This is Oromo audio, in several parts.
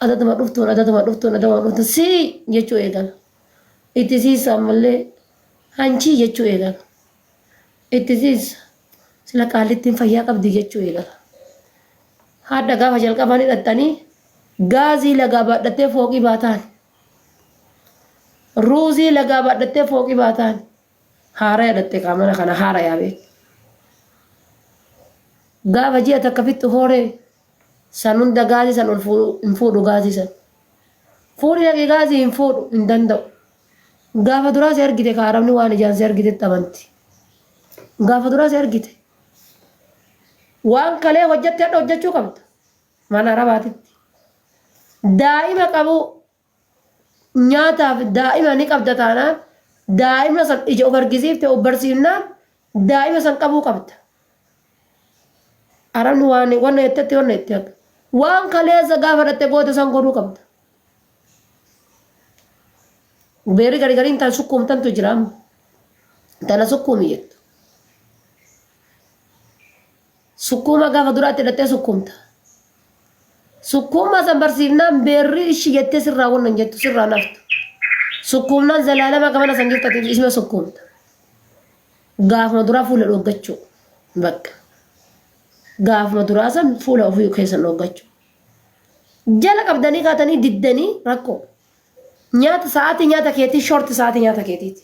adatuma dhuftuun adatuma dhuftuun adatuma dhuftuun sii jechuu eegala. Itti siisa ammallee hanchii jechuu eegala. Itti siisa sila qaallittiin fayyaa qabdi jechuu eegala. Haadha gaafa jalqabaa ni dhaxxanii gaazii lagaa baadhattee fooqii baataan. Ruuzii lagaa baadhattee fooqii baataan. Haaraya dhaxxee qaamana kana haarayaa beeku. Gaafa ji'a takka fixxu hooree San hunda gaazii san ol fuudhu hin fuudhu gaazii san. Fuudhi dhaqi gaazii hin fuudhu hin danda'u. Gaafa duraa si argite ka Arabni waan ijaan si argitetti amanti. Gaafa duraa si argite. Waan kalee hojjatte hadha hojjachuu qabda. Mana Arabaatitti. Daa'ima qabu nyaataaf daa'ima ni qabda taanaan daa'ima san ija of argisiifte of barsiifnaan daa'ima san qabuu qabda. Arabni waan wanna jettetti wanna jetti akka. Waan kaleessa gaafa dhatte goote san godhuu qabda. Beerri gari gariin tan sukkuumtantu jira amma. Tana sukkuumi jettu. Sukkuuma gaafa duraa itti dhaxxee sukkuumta. Sukkuumaa san barsiifnaan beerri ishi jettee sirraa wanna hin jettu sirraa naftu. Sukkuumnaan zalaalama gamana san jirtu ati ishima sukkuumta. Gaafuma duraa fuula dhooggachuu. Bakka. Gaafuma duraa san fuula ofii keessan dhooggachuu. Jala qabdanii kaatanii diddanii rakkoo. Nyaata sa'aatii nyaata keetii short sa'aatii nyaata keetiiti.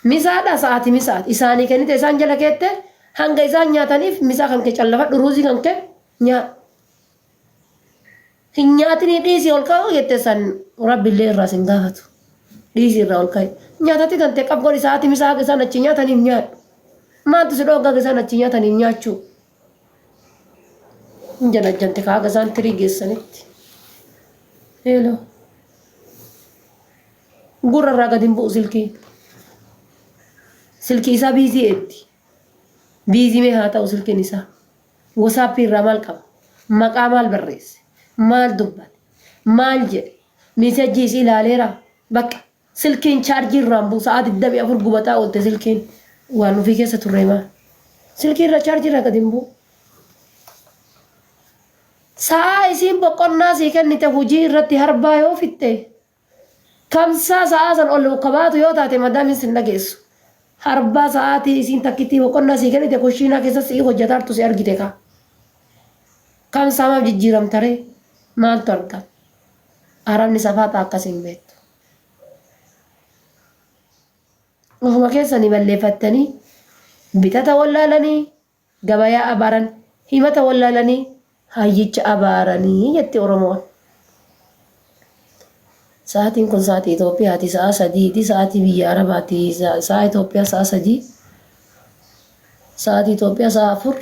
Misaadha sa'aatii misaati. Isaanii kennite isaan jala keette hanga isaan nyaataniif misaa kan kee callafadhu ruuzii kan kee nyaadhu. Hin nyaatinii dhiisii ol ka'uu jette san rabbillee irraa sin gaafatu. Dhiisii irraa ol ka'i. Nyaatatti kan ta'e qabgoon sa'aatii misaa haga isaan achi nyaataniif nyaadhu. Maaltu si dhoogga haga isaan achi nyaataniif nyaachuu? hin janajjante kaaga isaan tirii geessanitti heeloo gurra irraa gadi hin bu'u silkii silkii isaa biizii eetti biizii mee haa ta'u silkiin isaa wasaappii irraa maal qaba maqaa maal barreesse maal dubbate maal jedhe miisajjii isii ilaaleera bakka Silkiin chaarjii irraan buu sa'aa 24 gubataa oolte silkiin waan ofii keessa turree maa. Silkii irra chaarjii irraa gad hin buu. Sa'aa isiin boqonnaa sii kennite hujii irratti harbaa yoo fixxe kamsaa sa'aa san ol kabaatu yoo taate madaamiin sin dhageessu. Harbaa sa'aatii isiin takkittii boqonnaa sii kennite kushiinaa keessa si'ii hojjataartu si argite kaa. Kamsaa maaf jijjiiramtaree maaltu argama. Arabni safaaxa akkas hin beektu. Ofuma keessani balleefattani bitata wallaalani gabayaa abaaran himata wallaalani hayyicha abaarani jetti oromoon. Sa'atiin kun sa'atii Itoophiyaati sa'a sadiiti sa'atii biyya arabaati sa'a Itoophiyaa sa'a sadii sa'atii Itoophiyaa sa'a afur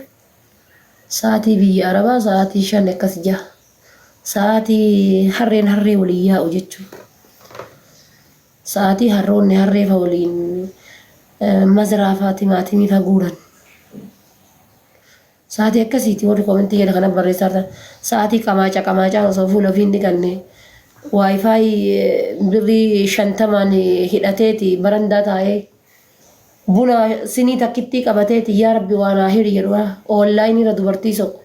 Sa'aatii biyya Arabaa sa'aatii shan akkas jaha. Sa'aatii harreen harree waliin yaa'u jechuun. Sa'aatii harroonni harree fa waliin maziraa fa timaatimii fa guuran. Sa'aatii akkasiiti warri komentii jedha kana barreessaa jirtan. Sa'aatii qamaaca qamaacaan osoo fuula ofii hin dhiqanne waayifaayi birrii shantamaan hidhateeti barandaa taa'ee. Buna sinii takkittii qabateeti yaa rabbi waa naa hiri jedhu online irra dubartii soqu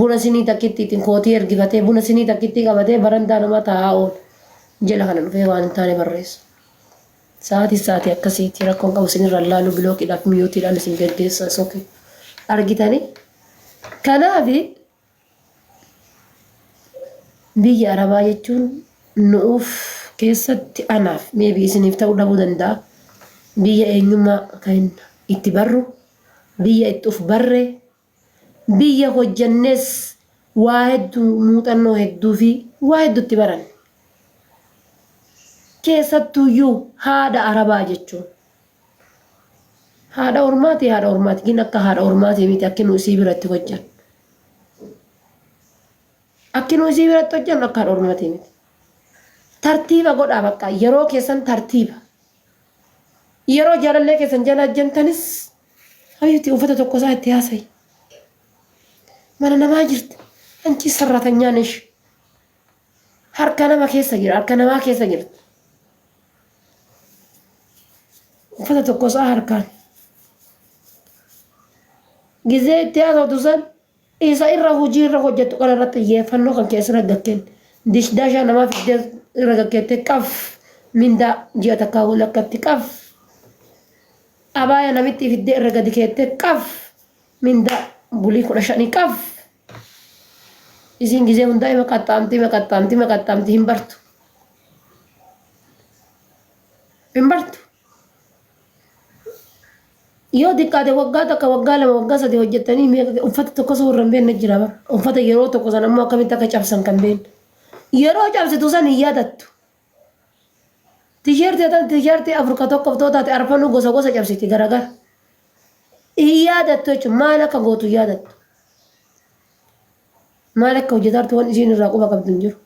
buna sinii takkittiitiin kootii ergifatee buna sinii takkittii qabatee barandaa namaa taa'aa oolu jela kana dhufee waan hin taane barreessu sa'aatii sa'aatii akkasiiti rakkoon qabu sinirra laaluu bilookiidhaaf miyuutiidhaan isin geggeessa soke argitanii kanaafi Biyya Arabaa jechuun nu'uuf keessatti anaaf, maybe isiniif ta'uu dhabuu danda'a, biyya eenyummaa keenya itti barru, biyya itti uf barre, biyya hojjennees waa heddu muuxannoo hedduu fi waa heddu itti baranne. Keessattuuyyuu haadha Arabaa jechuun. Haadha ormaati haadha ormaati gin akka haadha ormaati miti akki nu isii biratti hojjan. Akki nu isii biratti hojjan akka haadha ormaati miti. Tartiiba godhaa bakka yeroo keessan tartiiba. Yeroo jaalallee keessan jala ajjantanis hayyuti uffata tokko isaa itti haasayi. Mana namaa jirti. Anchi sarratanyaan ishi. Harka nama keessa jira, harka namaa keessa jira. Uffata tokko isaa harkaan. Gizee itti haasoftu san isa irra hojii irra hojjettu kana irratti xiyyeeffannoo kan keessa irra gakkeen dishdaashaa namaa fiddee irra gakkeettee qaf mindaa ji'a takkaa wal akkatti qaf abaaya namitti fiddee irra gadi keettee qaf mindaa bulii kudha shanii qaf Isiin gizee hundaa ima qaxxaamti ima qaxxaamti ima qaxxaamti hin bartu. Hin bartu. Yoo xiqqaate waggaa takka waggaa lama waggaa sadii hojjettanii meeqa uffata tokko osoo warra hin beekne jira bara. Uffata yeroo tokko san ammoo akkamitti akka cabsan kan beekne. Yeroo cabsitu san hin yaadattu. Tisheertii atan tisheertii afur ka tokkof too taate arfanuu gosa gosa cabsiti garagara. Hin yaadattu jechuun maal akka gootu hin yaadattu. Maal akka hojjetaartu waan isiin irraa quba qabdu hin jiru.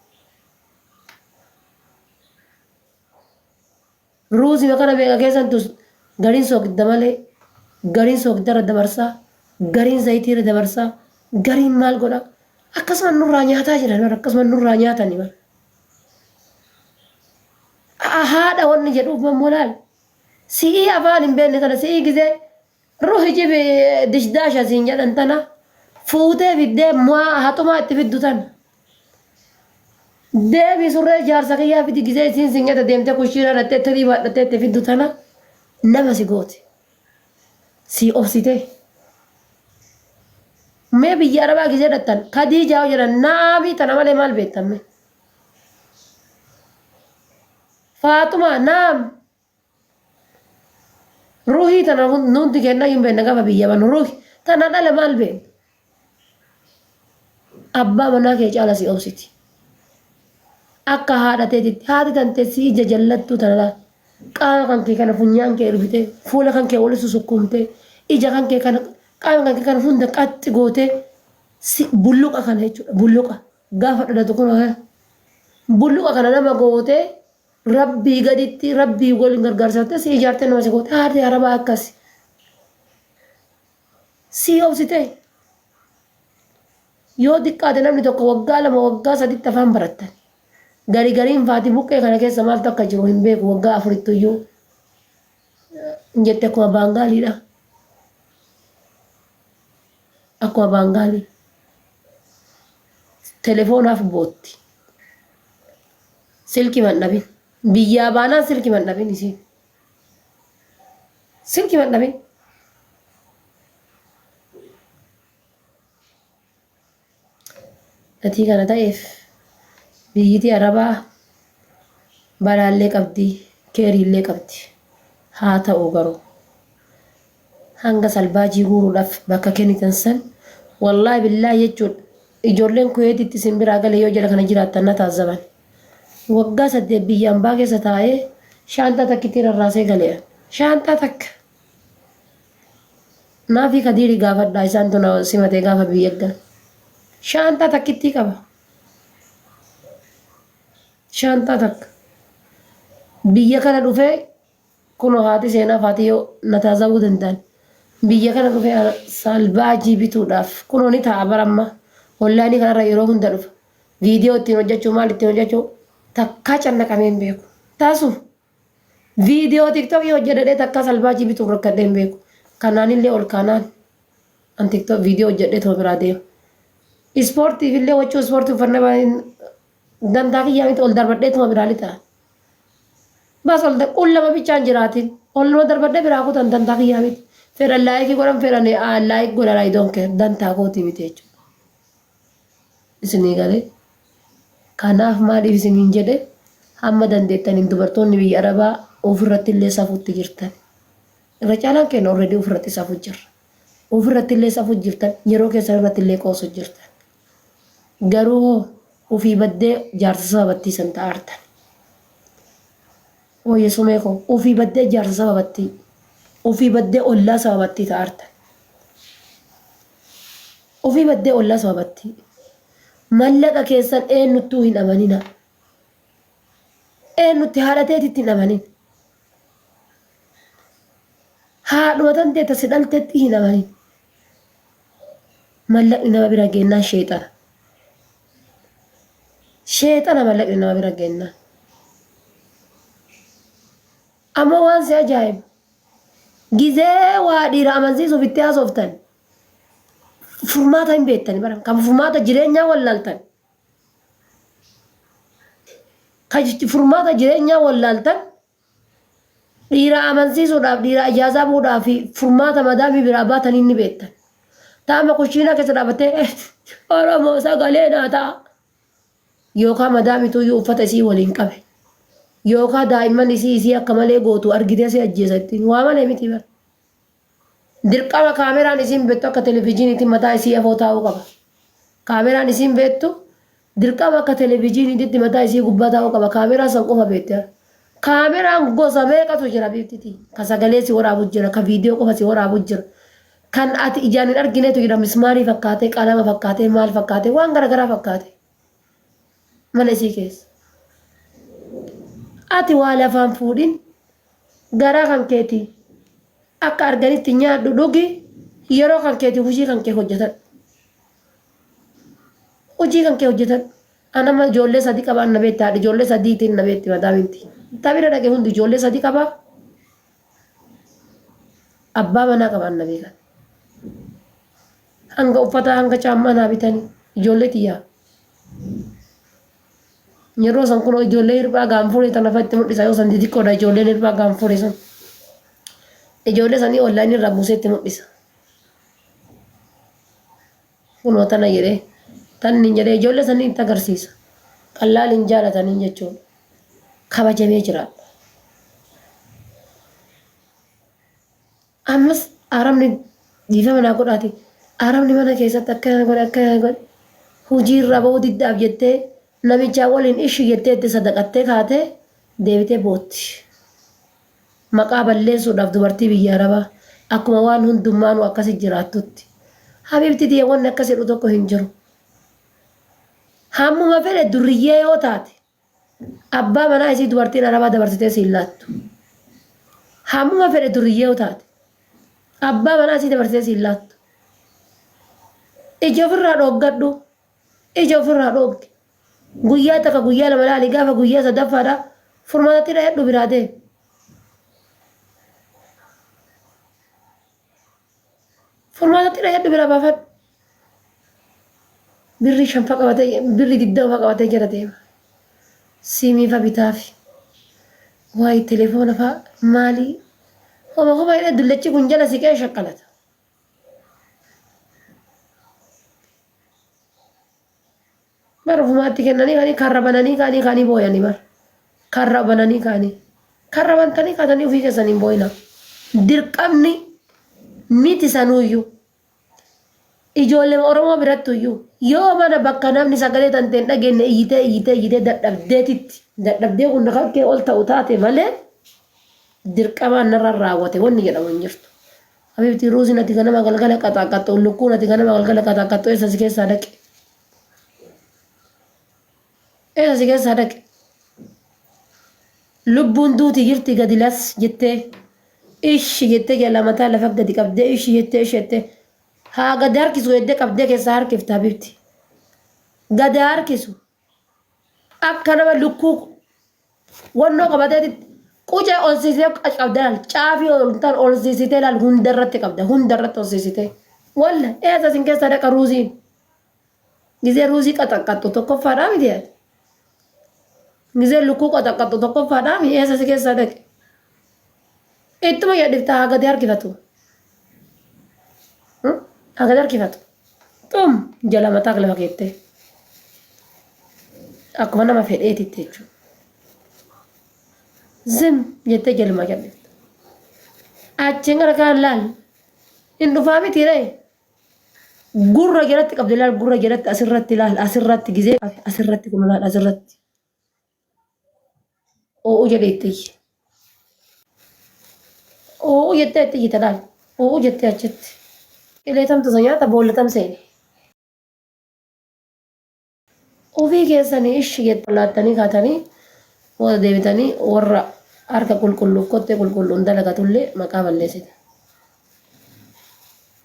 Ruuzima kana meeqa keessan tus gariin soogidda malee gariin soogidda irra dabarsaa gariin zayitii irra dabarsaa gariin maal godha akkasuma nurraa nyaataa jiran bara akkasuma nurraa nyaatani bara. haadha wanni jedhu uumammoo laal si'ii afaan hin beekne tana si'ii gisee ruhi jibi dishdaasha siin jedhan tana fuutee fiddee mu'aa haxumaa itti fiddu tana. Deebii surree jaarsa kiyyaa fidi gisee isiin siin jedha deemtee kushiinaa dhattee tirii baadhattee itti fiddu tana nama si gooti. sii obsitee mee biyya arabaa gisee dhattan kadiijaa yoo jedhan naamii tana malee maal beektan mee faaxumaa naam ruhii tana nuuti kenna hin beekna gaba biyya banu ruhi tana dhala maal beekna Abbaa manaa kee caala si obsiti. Akka haadha teetitti haati tante si ija jallattuu tana laal. Qaama kan kee kana funyaan kee ergitee fuula kan kee walitti sukkuumtee ija kan kee kana qaama kan kee kana hunda qaxxi gootee si bulluqa kana jechuudha bulluqa gaafa dhalatu kun bulluqa kana nama gootee rabbii gaditti rabbii waliin gargaarsattee si ijaartee nama si gootee haati arabaa akkasi. Sii obsitee? Yoo xiqqaate namni tokko waggaa lama waggaa saditti afaan barattan. Gari gariin faati buqqee kana keessa maaltu akka jiru hin beeku waggaa afurittu iyyuu hin jette akkuma baangaaliidha. Akkuma baangaalii. Telefoonaaf bootti. Silki mandhabin. Biyyaa baanaan silki mandhabin isiin. Silki man dhabee. Gatii kana ta'eef biyyitii arabaa balaallee qabdi keeriillee qabdi haa ta'u garuu Hanga salbaajii guuruudhaaf bakka kennitan san wallaahi billaahi jechuun ijoolleen Kuweetitti isin biraa galee yoo jara kana jiraattan na taazzaban. Waggaa saddeet biyya ambaa keessa taa'ee shaanxaa takkittii rarraasee gale an. Shaanxaa takka! Naafii Kadiiri gaafadhaa isaantu na simate gaafa biyya ergan. Shaanxaa takkittii qaba. Shaanxaa takka. Biyya kana dhufee Kuno haati seenaa Faatiyo na taazabuu danda'an. Biyya kana dhufee ana saalbaajii bituudhaaf kuno ni taa'a bara amma onlaayinii kanarra yeroo hunda dhufa. Viidiyoo ittiin hojjachuu maal ittiin hojjachuu takkaa cannaqamee hin beeku. Taasu! Viidiyoo tiktokii hojjadhadhee takkaa salbaajii bituuf rakkadhee hin beeku. Kanaanillee ol kaanaan an tiktok viidiyoo hojjadhee tuma biraa deema. Ispoortiifillee wachuu ispoortii uffannaa Dantaa kiyyaa miti ol darbadhee tuma biraa lixa. Bas ol qullama bichaan jiraatin. Ol nama darbadhee biraa kutan dantaa kiyyaa miti. Fedhan laayikii godhan fedhan laayik godhan I don't care dantaa kooti miti jechuudha. Isinii galee. Kanaaf maaliif isiniin jedhe hamma dandeettaniin dubartoonni biyya Arabaa ofirratti illee safuutti jirtan. Irra caalaan keenya already ofirratti safuu jirra. Ofirratti illee safuu jirtan yeroo keessan irratti illee qoosu jirtan. Garuu hoo ufii baddee jaarsa saba battii san ta aartan hoo yesomee koo ufii baddee jaarsa saba battii ufii baddee ollaa saba battii ta aartan ufii baddee ollaa saba battii mallaqa keessan eennuttuu hin amanina eennutti haadha teetitti hin amanin haadhuma tan teetta si dhaltetti hin amanin mallaqni nama bira geennaan sheexana. Sheexana mallaqni nama bira geennaan. Amma waan si ajaa'ibu gizee waa dhiira amansiisuuf itti haasoftan furmaata hin beektani bara kan furmaata jireenyaa wallaaltan. Kan furmaata jireenyaa wallaaltan Dhiira amansiisuudhaaf dhiira ajaazaa buudhaa fi furmaata madaamii biraa baatanii ni beektan. Taama kushiinaa keessa dhaabattee "Eh, Oromoo sagalee naa ta'a. Yookaan madaamituu iyyuu uffata isii waliin qabe. Yookaan daa'imman isii isii akka malee gootu argitee si ajjeesa ittiin waa malee miti bara. Dirqama kaameraan isiin beektu akka televijiiniitti mataa isii afoo taa'uu qaba. Kaameraan isiin beektu dirqama akka televijiiniititti mataa isii gubbaa taa'uu qaba. Kaameraa san qofa beekti bar. Kaameraan gosa meeqatu jira biiftitii? Ka sagalee si waraabu jira, ka viidiyoo qofa si waraabu jira. Kan ati ijaan hin arginetu jira mismaarii fakkaatee, qalama fakkaatee, maal fakkaatee waan garagaraa fakkaatee. mana isii keessa. Ati waa lafaa hin fuudhin, garaa kan keetii akka arganitti nyaadhu, dhugi, yeroo kan keetiif hujii kan kee hojjatadhu. Hujii kan kee hojjatadhu. An amma ijoollee sadi qaba, an na beekti, haadha ijoollee sadiitiin na beekti madaamiin ti. Ta bira dhaqe hundi ijoollee sadi qaba, abbaa manaa qaba, an na beekan. Hanga uffataa hanga caammaa naa bitani ijoollee tiyyaa. Yeroo san kunoo ijoollee hirphaa gaanfuree tana fa'itti mul'isa yoo san xixiqqoodha ijoolleen hirphaa gaanfuree sun. Ijoollee sanii online irraa buusee itti mul'isa. Kunoo tana jedhee tanni jedhee ijoollee sanii itti agarsiisa. Qallaal hin jaalatanii jechuudha. Kabajamee jiraadha. Ammas arabni dhiifama naa godhaati arabni mana keessatti akkana godhe akkana godhe hujii irraa ba'uu diddaaf jettee namichaa waliin ishi jettee itti sadaqattee kaatee deebitee bootti. Maqaa balleessuudhaaf dubartii biyya arabaa akkuma waan hundummaanuu akkasi jiraattutti. Habiibti tiyya wanni akkas jedhu tokko hin jiru. Hammuma fedhe durriyyee yoo taate. Abbaa manaa isii dubartiin Arabaa dabarsitee si hin laattu. Hammuma fedhe duriyyee yoo taate. Abbaa manaa isii dabarsitee si hin laattu. Ija ofirraa dhooggadhu. Ija ofirraa dhoogdi. Guyyaa takka guyyaa lama laali gaafa guyyaa sadaffaadha furmaatatti dhayadhu biraa deemi. Furmaata xira heddu bira baafadhu. Birri shanfa qabatee birri digdama qabatee jala deema. Siimii fa bitaafi. Waa'ee telefoona fa maali? Homa homa jedhee dullachi kun jala siqee shakkalata. Bara ofumaatti kennanii kaanii karra bananii kaanii kaanii booyanii bara. Karra bananii kaanii. Karra bantanii kaatanii ofii keessanii hin booyinaa. Dirqamni miti sanuuyyuu. Ijoollee Oromoo birattuyyuu yoo mana bakka namni sagalee tantee hin dhageenye iyyitee iyyitee iyyitee dadhabdeetitti dadhabdee kun kakkee ol ta'u taate malee dirqamaan narraan raawwate wanni jedhamu hin jirtu. Habiibti ruuziin ati ganama galgala qaxaaqqaxxu lukkuun ati ganama galgala qaxaaqqaxxu eessa si keessaa dhaqe? Eessa si keessaa dhaqe? Lubbuun duuti jirti gadi las jettee ishi jettee jala mataa lafa gadi qabdee ishi jettee ishi jettee haa gadi harkisu jettee qabdee keessaa harkifta habibti. Gadi harkisu akka nama lukkuu Wannoo qabateeti qucee olsiisee qabda laal caafii oltan olsiisitee laal hundarratti qabda hundarratti olsiisitee walla eessa isin keessa dhaqa ruuziin gizee ruuzii qaxaqqaxxu tokkoffaadhaa miti yaad gizee lukkuu qaxaqqaxxu tokkoffaadhaa mi eessa si keessa dhaqe Ittuma yadhifta haa gadi harkifatu. Haa gadi harkifatu. Xum jala mataa kilama keettee. Akkuma nama fedheetitti jechuudha. Zim jettee jaluma yadhifta. Achiin gara kaan laal. Hin dhufaa miti ree. Gurra jalatti qabdi laal gurra jalatti asirratti laal asirratti gizee asirratti kun laal asirratti. Oo'uu jedhee itti iyye. Oo'uu jettee itti iyyite laal. Oo'uu jettee achitti. Ilee tamtu isa nyaata boolla tam seene. Ofii keessanii ishi jettan laattanii kaatanii booda deebitanii warra harka qulqulluuf kottee qulqulluun dalagatullee maqaa balleessita.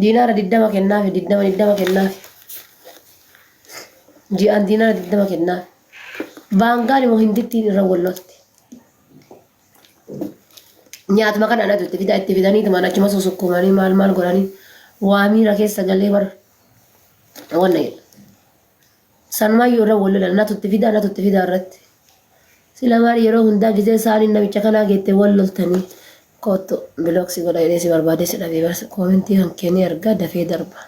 Diinaara 20 kennaafi 20 20 kennaafi. Ji'aan diinaara 20 kennaafi. Baangaan immoo hindittiin irra wal lolti. Nyaatuma kana anatu itti fida itti fidanii tuman achuma susukkumanii maal maal godhanii waa miira keessa galee bar wanna jedha. Sanumaayyuu irra wal lolan natu itti fidaa natu itti fidaa irratti. Sila maal yeroo hundaa gizee saaniin namicha kanaa geette wal loltanii koottu bilooksi godha jedhee si barbaadee si dhabee barsa koomentii kan keenii argaa dafee darba.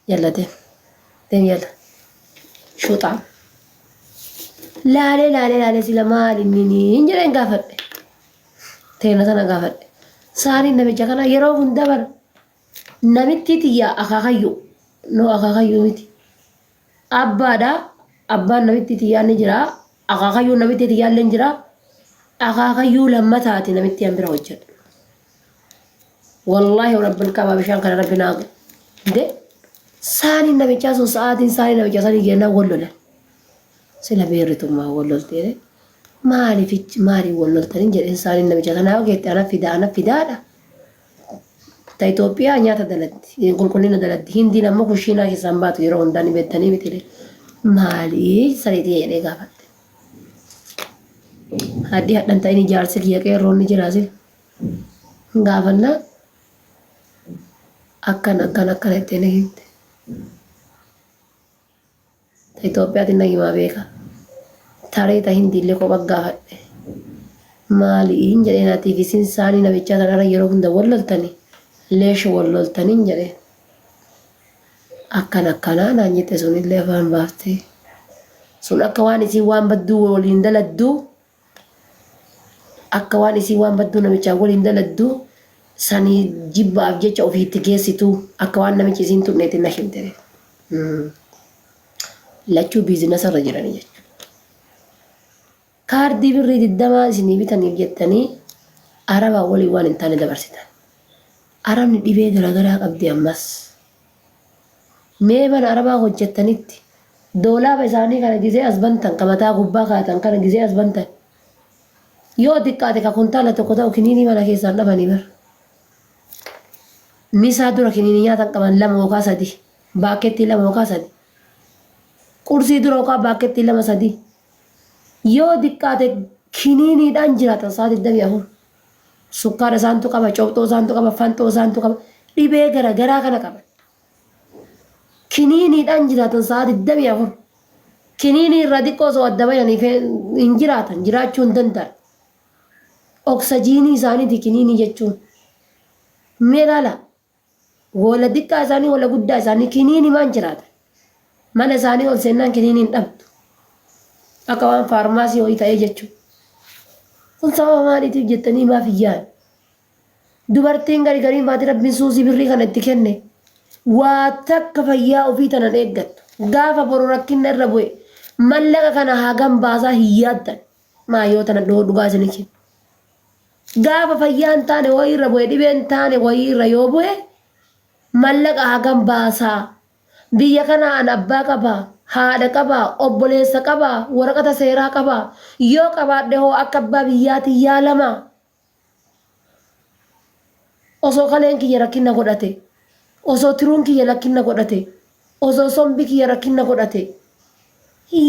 Jallate. Deem yalla. Shuuxaam. Laalee laalee laalee sila maal inni niin jedheen gaafadhe. Teena sana gaafadhe. Saaniin namicha kanaa yeroo hundaa bara. Namittii tiyya akaakayyu no akaakayyu miti abbaadha abbaan namittii tiyyaa ni jira akaakayyuun namittii tiyyaa illee jira akaakayyuu lammataati namittii an bira hojjedhu wallaahi rabbil qabaa bishaan kana rabbi naa de saaniin namichaa sun sa'aatiin saanii namichaa sanii geennaa wal lolan sila beerritummaa wal lolteere maaliif maaliif wal loltaniin jedheen saaniin namichaa sanaa yoo geette ana fidaa ana fidaadha Ta Itoophiyaa nyaata dalagdi, qulqullina dalagdi. Hindiin ammoo kushiinaa keessaa hin baatu yeroo hundaa ni beektanii mitiiree. Maali saree tiyya jedhee gaafadhe. Haddii hadhan ta'ini jaarsi kiyya qeerroon ni jiraasi. Hin gaafanna akkan akkan akkana jettee na himte. Ta Itoophiyaatiin nagimaa beeka. Taree ta Hindiillee kopha gaafadhe. Maali'iin jedheen atii fi sin saanii namichaa tanarra yeroo hunda wal loltanii? Leesha wal loltaniin jedheen. Akkan akkanaa naan jette sunillee afaan baaftee. Sun akka waan isiin waan badduu waliin daladduu Akka waan isiin waan badduu namichaan waliin daladdu sanii jibbaaf jecha ofii itti geessituu akka waan namichi isiin tuqneetti na himte. Lachuu biizinasa irra jiranii jechuudha. Kaardii birrii digdamaa isinii bitaniif jettanii arabaa waliin waan hin taane dabarsitan. Arabni dhibee garaagaraa qabdi ammas. Mee mana arabaa hojjattanitti doolaaba isaanii kana gizee as bantan ka mataa gubbaa kaa'atan kana gizee as bantan yoo xiqqaate ka kuntaala tokko ta'u kiniinii mana keessaan dhabanii bar misaa dura kiniinii nyaatan qaban lama yookaa sadi baakkeettii lama yookaa sadi qursii dura yookaa baakkeettii lama sadi yoo xiqqaate kiniiniidhaan jiraatan saa 24 Sukkaara isaantu qaba, cophxoo isaantu qaba, fanxoo isaantu qaba. Dhibee gara garaa kana qaban. Kiniiniidhaan jiraatan sa'a 24. Kiniinii irraa xiqqoo osoo adda bayanii hin jiraatan, jiraachuu hin danda'an. Oksajiinii isaaniiti kiniinii jechuun. Mee ilaala. Hoola diqqaa isaanii hoola guddaa isaanii kiniini maan jiraata. Mana isaanii ol seennaan kiniini hin dhabdu. Akka waan faarmaasii ho'i ta'ee jechuu. Kun sababa maaliitiif jettanii maaf hin yaadu? Dubartiin gari gariin faati rabbiin suusii birrii kana itti kenne. Waa takka fayyaa ofii tanan eeggattu. Gaafa boru rakkinna irra bu'e mallaqa kana hagam baasaa hin yaaddan. Maa yoo tana dhoo dhugaa isinichi. Gaafa fayyaa hin taane wayii irra bu'e dhibee hin taane wayii irra yoo bu'e mallaqa hagam baasaa biyya kana an abbaa qaba haadha qaba obboleessa qaba waraqata seeraa qaba yoo qabaadhe hoo akka abbaa biyyaatiin yaalama osoo kaleen kiyya rakkinna godhate osoo tiruun kiyya lakkinna godhate osoo sombi kiyya rakkinna godhate